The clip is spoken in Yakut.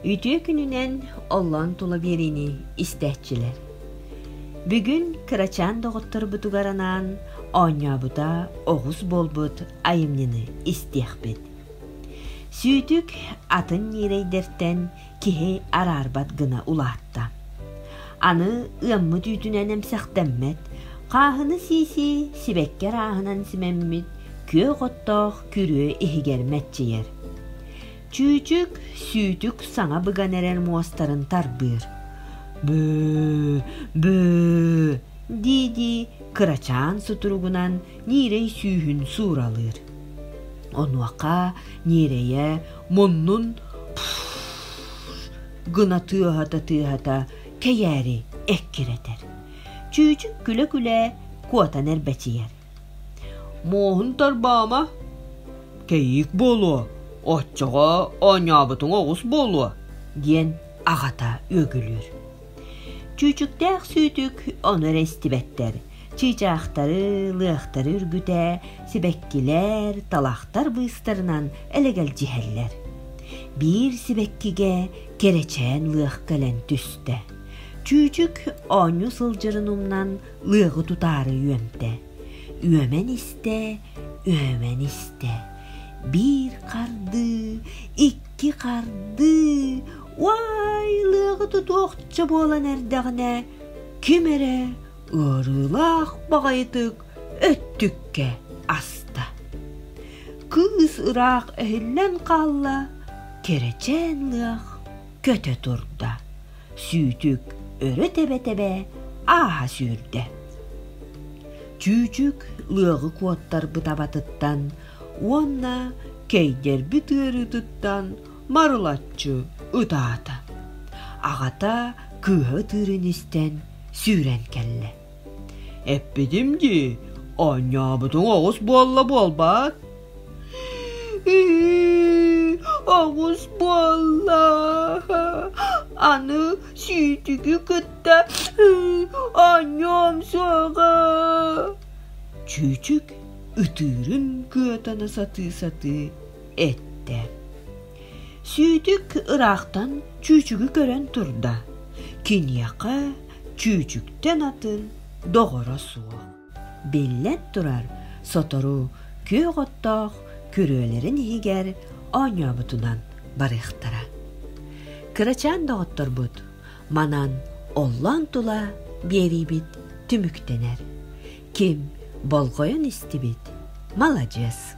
үтүө күнүнэн оллоон тула биэриини истээччилэр. Бүгүн кырачаан доҕотторбутугар анаан оонньообута оҕус буолбут айымньыны истиэхпит. Сүүтүк атын ньирэйдэртэн киһи араарбат гына улаатта. Аны ыаммыт үүтүнэн эмсэхтэммэт, хааһыны сии-сии сибэкки арааһынан симэммит күөх оттоох күрүө иһигэр мэччийэр. Чүүчүк сүүтүк саҥа быган эрэр муостарын тарбыыр. Бөө, бөө, дии-дии кырачаан сутуругунан ньиирэй сүүһүн сууралыыр. Онуоха ньиэрэйэ муннун гына тыаһата-тыаһата кэйээри эккирэтэр. Чүүчүк күлэ-күлэ куотан эрбэчийэр. Муоһун тарбаама, кэйиик буолуо, оччоҕо оонньообутуҥ оҕус буолуо, диэн аҕата үөгүлүүр. Чүүчүктээх Сүүтүк ону эрэ истибэттэр, чыычаахтары, лыахтары үргүтэ, сибэккилэр, талахтар быыстарынан элэгэлдьиһэллэр. Биир сибэккигэ кэрэчээн лыах кэлэн түстэ. Чүүчүк оонньуу сылдьарын умнан ыаҕы тутаары үөмтэ үөмэн истэ үөмэн истэ биир хардыы икки хардыы уай лыаҕы тутуохча буолан эрдэҕинэ ким эрэ ыарыылаах баҕайытык өттүккэ аста кыыс ыраах эһиллэн хаалла кэрэчээн ыах көтө турда сүүтүк өрө тэбэ-тэбэ ааһа сүүрдэ. Чүүчүк лыаҕы куоттарбыт абатыттан уонна кэйдэрбит ыарыытыттан марылаччы ытаата. Аҕата кыыһа ытыырын истэн сүүрэн кэллэ. Эппитим дии, оонньообутуҥ оҕус буолла буолбаат? оҕус буолла. Аны сүүтүгү кытта оонньоом сөҕө. Чүүчүк ытыырын кыатана сатыы-сатыы эттэ. Сүүтүк ыраахтан чүүчүгү көрөн турда, киниэхэ чүүчүктэн атын доҕоро суох. Биллэн турар, сотору күөх оттоох күрүөлэрин иһигэр оонньообутунан барыахтара. Кырачаан доҕотторбут манан оллоон тула биэриибит түмүктэнэр. Ким болҕойон истибит, маладьыас.